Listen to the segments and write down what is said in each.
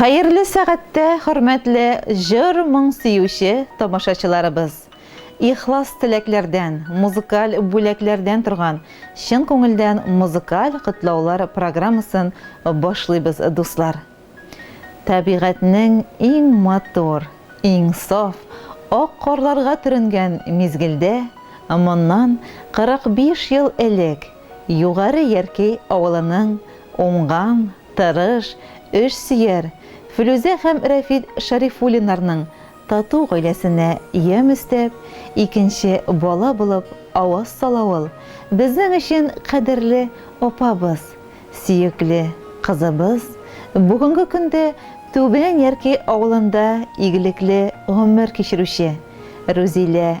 Хәерле сәгатьтә хөрмәтле җыр-моң сөюче тамашачыларыбыз! Ихлас теләкләрдән, музыкаль бүләкләрдән торган чын күңелдән музыкаль котлаулар программасын башлыйбыз, дуслар! Табигатьнең иң матур, иң саф, ак карларга төренгән мизгелдә, моннан 45 ел элек Югары Яркәй авылының уңган, Тырыш, эш сөяр Флүзә һәм Рәфит Шәрифуллиннарның тату гаиләсенә ямь өстәп, икенче бала булып аваз сала ул, безнең өчен кадерле апабыз, сөекле кызыбыз, бүгенге көндә Түбән Ярки авылында игелекле гомер кичерүче Рүзилә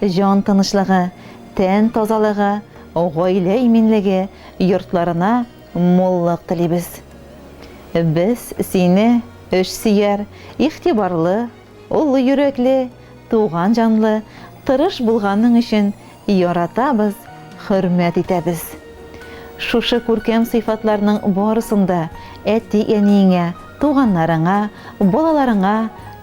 Җан тынычлыгы, тән тазалыгы, гаилә иминлеге, йортларына муллык телибез. Без сине эшсөяр, игътибарлы, олы йөрәкле, туган җанлы, тырыш булганың өчен яратабыз, хөрмәт итәбез. Шушы күркәм сыйфатларның барысын да әти-әниеңә, туганнарыңа, балаларыңа,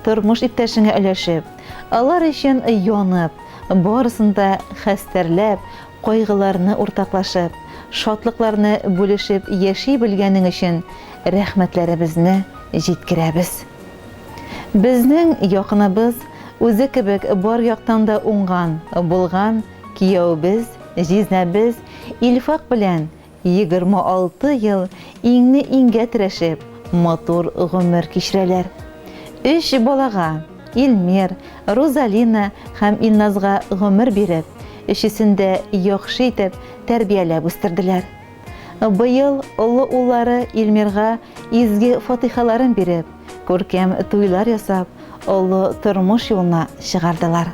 тормыш иптәшеңә өләшеп, Алар өчен янып, барысын да хәстәрләп, кайгыларны уртаклашып, шатлыкларны бүлешеп яши белгәнең өчен рәхмәтләребезне җиткерәбез. Безнең якыныбыз, үзе кебек бар яктан да уңган, булган кияүебез, җизнәбез Илфак белән Егерме алты ел иңне-иңгә терәшеп, матур гомер кичерәләр. Өч балага, Илмир, Рузалина һәм Илназга гомер биреп, өчесен дә яхшы итеп тәрбияләп үстерделәр. Быел олы уллары Илмирга изге фатыйхаларын биреп, күркәм туйлар ясап, олы тормыш юлына чыгардылар.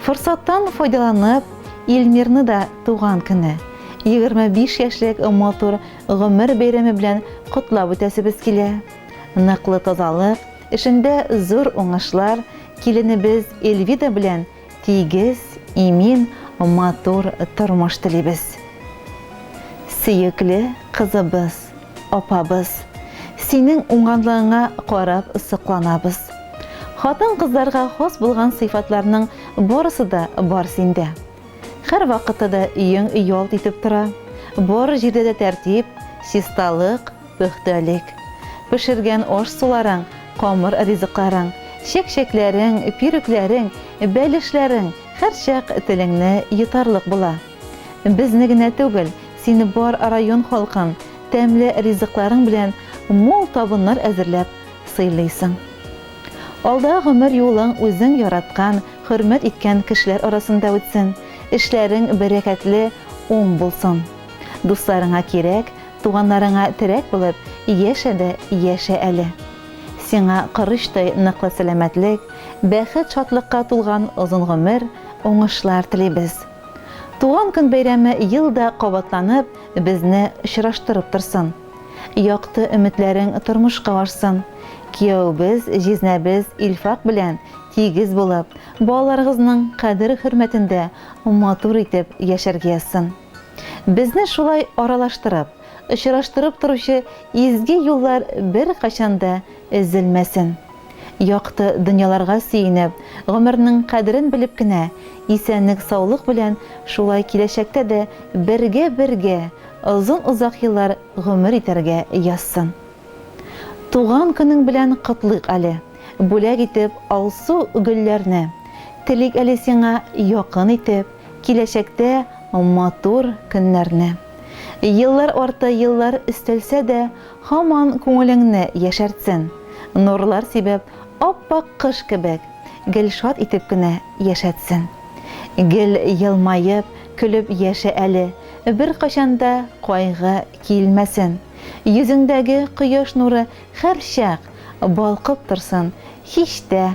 Форсаттан файдаланып, Ильмирны да туган көне, 25 яшьлек матур гомер бәйрәме белән котлап үтәсебез килә. Ныклы тазалык, эшендә зур уңышлар, киленебез Эльвида белән тигез, имин, матур тормыш телибез. Сөекле кызыбыз, апабыз, синең уңганлыгыңа карап сокланабыз. Хатын-кызларга хас булган сыйфатларның барысы да бар синдә. Һәрвакытта да өең ялт итеп тора, бар җирдә дә тәртип, чисталык, Пөхтәлек. Пешергән аш-суларың, камыр ризыкларың, чәкчәкләрең, пирүкләрең, бәлешләрең һәрчак телеңне йотарлык була. Безне генә түгел, сине бар район халкын тәмле ризыкларың белән мул табыннар әзерләп сыйлыйсың. Алда гомер юлың үзең яраткан, хөрмәт иткән кешеләр арасында үтсен, эшләрең бәрәкәтле, уң булсын. Дусларыңа кирәк, Туганнарыңа терәк булып, яшә дә яшә әле. Сиңа корычтай ныклы сәламәтлек, бәхет-шатлыкка тулган озын гомер, уңышлар телибез. Туган көн бәйрәме ел да кабатланып, безне очраштырып торсын. Якты өметләрең тормышка ашсын. Кияүебез, җизнәбез Илфак белән тигез булып, балаларыгызның кадер-хөрмәтендә матур итеп яшәргә язсын. Безне шулай аралаштырып, очраштырып торучы изге юллар беркайчан да өзелмәсен! Якты дөньяларга сөенеп, гомернең кадерен белеп кенә, исәнлек-саулык белән шулай киләчәктә дә бергә-бергә озын-озак еллар гомер итәргә язсын! Туган көнең белән котлыйк әле, бүләк итеп алсу гөлләрне, телик әле сиңа якын итеп, киләчәктә матур көннәрне. Еллар арты еллар өстәлсә дә, һаман күңелеңне яшәртсен, нурлар сибеп, ап-ак кыш кебек, гел шат итеп кенә яшәтсен. Гел елмаеп, көлеп яшә әле, беркайчан да кайгы килмәсен. Йөзеңдәге кояш нуры һәрчак балкып торсын, һич тә